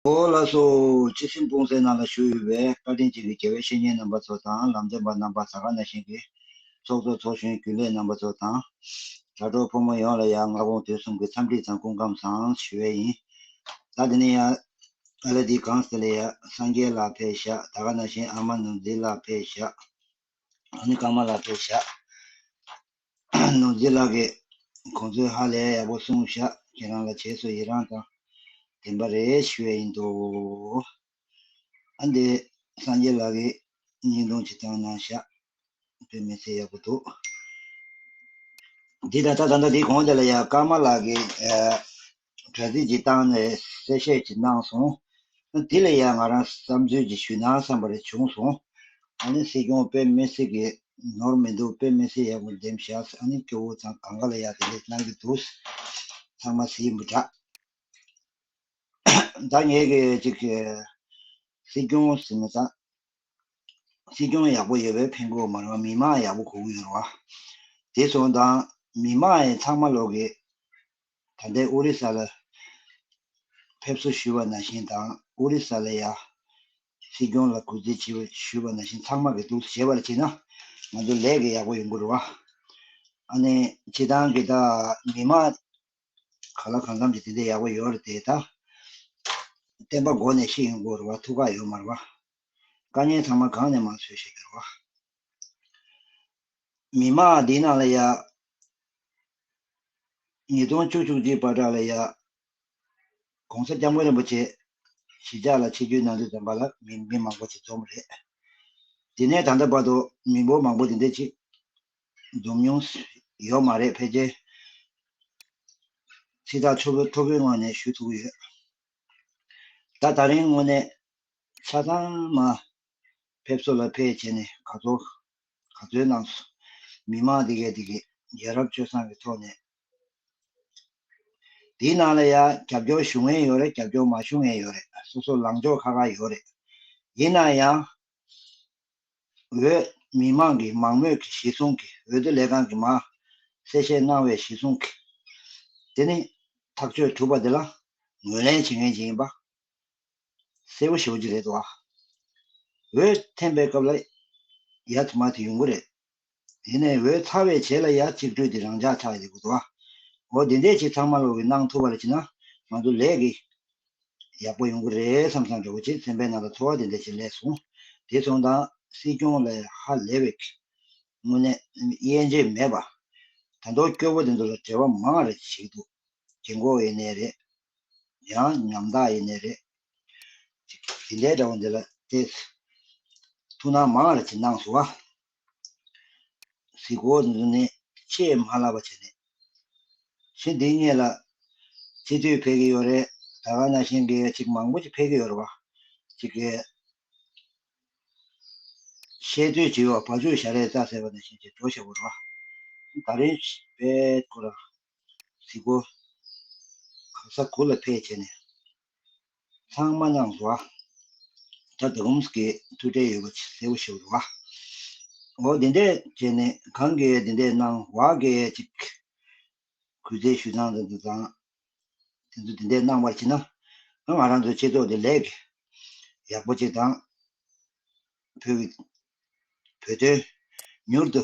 ཨོ་ལ་སོ། སྤྱི་སེམས་སྤུངས་སེ་ནང་ལ་བཞུགས་ཡོད་པའི་བཀའ་དྲིན་ཅན་གྱི་དགེ་བའི་བཤེས་གཉེན་རྣམ་པ་ཚོ་དང་ལམ་སྟོན་པ་རྣམ་པ་ས་ག་ན་བཞིན་གྱི་ཚོགས་གཙོ་ཚོགས་གཞོན་རྒྱུན་ལས་རྣམ་པ་ཚོ་དང། དྲ་གྲོགས་ཕོ་མོ་ཡོངས་ལ་ཡ་ང་དགོངས་དོན་གསུམ་གྱི་འཚམས་འདྲི་དང་སྐུ་ཁམས་བཟང་ཞུ་བས་ཡིན། ད་དེ་ནས་ཡ་ཨ་ལ་དི་གངས་སེ་ལ་ཡ་སངས་རྒྱས་ལགས་ཕེ་བཞག་ད་ག་ན་བཞིན་ཨ་མ་ནུ་འཛི་ལགས་ཕེ་བཞག་ཨ་ནི་ཀ་མ་ལགས་ཕེ་བཞག། ནོར་རྫི་ལགས་ཀྱིས་ཁོང་ཚོས་ཧ་ལས་ཡག་པོ་གསུངས་བཞག་ཁྱེད་རང་ལ་བྱས་སོ་ཡི་རངས་དང་དྲན་པ་རེ་ཞུ་ཡས་ཡིན་འདུག་ཨ་འདི་སངས་རྒྱས་ལགས་ཀྱིས་སྙིང་རྡུང་ཅིག་བཏང་གནང་བཞག་བོད་མི་ཚེ་ཡག་པོ་འདུག། འདི་ད་ལྟ་ད་ལྟ་འདི་གོང་དེ་ལ་ཡང་ཀརྨ་ལགས་ཀྱིས། དྲ་ཚིགས་ཀྱི་སྟངས་ནས་གསལ་བཤད་ཅིག་གནང་སོང། དེ་ལ་ཡང་ང་རང་བསམ་ཚུལ་གྱི་ཞུས་ན་བསམ་པ་རེ་བྱུང་སོང། ཨ་ནི་སྲིད་སྐྱོང་དཔེ་མི་སྲིད་གི་ནོར་མི་འདུག་དཔེ་མི་སྲིད་ཡག་པོ་འདེམས་བཞག་ཨ་ནི་སྐྱོ་བོ་ཚང་གང་ག་ལ་ཡག་དེ་ལས་གནང་གི་འདུག་ཚང་མ་སྲིད་ཡིན་པ་འདྲ། ད་ངས་གི་ཅིག་སྲིད་སྐྱོང་ཟེར་ན་ད་སྲིད་སྐྱོང་ཡག་པོ་ཡོད་པའི་ཕན་གོ་མ་རང་མི་མང་ཡག་པོ་གོ་གི་ཡོད་ར་བ། དེ་སོང་དང་མི་མང་ཡིན་ཚང་མ་ལོག་གི། ད་ལྟའི་ཨོ་རི་ས་ལ་ཕེབས་བསུ་ཞུས་པ་ན་བཞིན་དང་ཨོ་རི་ས་ལ་ཡང་སྲིད་སྐྱོང་ལ་གུས་བརྩི་བྱེད་པ་ཞུས་པ་ན་བཞིན་ཚང་མ་གི་སྡུག་བྱེད་པར་བྱེད་ན་ང་ཚོ་ལས་ཀྱི་ཡག་པོ་ཡོང་གི་རུ་བ་ཨ་ནི་བྱེད་སྟངས་གི་ད་མི་མང་ག་ལ་གང་འཚམ་གྱི་དེ་འདྲའི་ཡག་པོ་ཡོད་རེད་དེ་ད་བསྟན་པ་འགོ་ནས་ཤེས་ཡོང་གི་རུ་བ་ཐུགས་ཁག་ཡོད་མ་རུ་བ་དཀའ་ཉེན་ཚང་མ་གང་ནས་མང་བཟོས་བྱེད་ཀྱི་རུ་བ། མི་དམངས་བདེ་སྣང་ལ་ཡག། ཉིས་སྟོང་བཅུ་བཅུ་གཅིག་པར་གྲགས་ལ་ཡག། ྋགོང་ས ྋསྐྱབས་མགོན་རིན་པོ་ཆེ་གཞིས་ཆགས་ལ་ཆེད་བསྐྱོད་གནང་དུས་འཛོམས་པ་ལ་མི་མི་མང་པོ་ཞིག་འཛོམས་རེད། དེ་ནས་ད་ལྟ་བར་དུ་མི་འབོར་མང་པོ་དེ་འདྲའི་ཆིག་འཛོམས་མྱོང་ཡོད་མ་རེད་ཕལ་ཆེར་ཚིག་ཐག་ཆོད་པོ་ཐོར་བུའི་ངང་ནས་ཞུ་ཐུབ་ཀྱི་ཡོད། ད་ད་རིང་དངོས་གནས་ཆ་ཚང་མ་ཕེབས་བསུ་ལ་ཕེབས་བྱས་ནས་ག་ཚོད་ག་ཚོད་གནང་སོང། མི་མང་དེ་གས་དེ་གས་ཡ་རབས་སྤྱོད་བཟང་གི་ཐོག་ནས། དེའི་ནང་ལ་ཡ་རྒྱབ་སྐྱོར་ཞུ་ངན་ཡོད་རེད་རྒྱབ་སྐྱོར་མ་ཞུ་ངན་ཡོད་རེད་སོ་སོ་ལངས་ཕྱོགས་ཁ་ཁ་ཡོད་རེད། ཡིན་ན་ཡང། འོས། མི་མང་གི་མང་མོས་ཀྱི་གཞི་བཟུང་གི་འོས་བསྡུ་ལས་ཁང་གི་མ། གསལ་བཤད་གནང་བའི་གཞི་བཟུང་གི། དེ་ནི། ཐག་གཅོད་གྲུབ་པ་དེ་ལ། ངོས་ལེན་བྱེད་མཁན་གཅིག་ཡིན་པ། གསལ་པོ་ཞུ་རྒྱུ་རེད་དོ། འོད་འཐེན་པའི་སྐབས་ལ་ཡ་དུ་མ་དེ་ཡོང་གི་རེད། དེ་ནས་འོད་ཚ་བའི་བྱེད་ལ་ཡ་གཅིག་སྤྲོས་ཏེ་རང་འཇགས་ཆགས་ཡོད་དགོས་དོ། འོ་དེ་འདྲས་ཅིག་ཚང་མ་ལོག་གི་གནང་ཐུབ་པ་ལ་བྱིན་ན་ང་ཚོ་ལས་ཀྱི་ཡག་པོ་ཡོང་གི་རེད་བསམ་བསམ་འགྲོ་གི་བྱེད་ཚན་པའི་ནང་ལ་ཐོ་བ་དེ་འདྲས་ཅིག་ལས་སོང་དེ་སོང་དང་སྲིད་སྐྱོང་ལས་ཧ་ལས་བའི་དངོས་གནས་དབྱེ་འབྱེད་མེད་པ། དང་ཐོག་སྐྱོ་བོ་དེ་ཚོ་ལ་བྲེལ་བ་མང་རེ་ཞིག་འདུག་དགེ་འགོ་ཨེ་ནས་རེད། ཡང་ཉམ་ཐག་ཡེ་ནས་རེད། དེ་འདྲའི་དགྲ་བོ་འདི་ལ་བལྟས། ཐུགས་སྣང་མང་ལ་ཅི་སྣང་བཟོ། གཟིགས་སྐོར་འདི་ཚོ་ནི་ཆེས་མ་ལགས་པ་བྱས་ནས། ཚེ་འདི་སྙེད་ལ་སྤྱི་མཐུས་ཕེབས་ཀྱི་ཡོད་རེད་ད་ག་ན་ཤེས་འགའི་ཅིག་མང་པོ་ཅིག་ཕེབས་ཀྱི་ཡོད་རེད་བ། ཅིག་གི། བཤད་སྡོད་བྱེད་ཡོད་བ་བ་ཅུ་ཞྭ་རེ་རྩ་ཟེར་བ་ནས་བཤད་བྱེད་འགྲོ་བྱེད་པོ་རེད་བ། ད་རིང་བལྟས་སྐོར། གཟིགས་པོ། གང་ཟག་གུ་ལ་ཕེད་བྱས་ནས། ཚངས་མ་མྱང་བ། དྲ་དེ་འོམ་སྐད་དུ་དྲས་ཡོད་པ་གསལ་བོ་ཞིག་རེད་བ། འོ་དེ་འདྲས་བྱས་ནས་གང་གས་དེ་འདྲས་གནང་བ་སྐད་ཅིག། གུས་བརྩེ་ཞུ་ཙང་ཙང་ཙང་ཙང། དེ་ཚོ་དེ་འདྲས་གནང་བར་བྱེད་ན། ང་རང་ཚོའི་སྤྱི་ཚོགས་འདི་ལེགས། ཡག་པོ་ཅིག་དང། བོད་ཀྱི་བོད་དོན་མྱུར་དུ།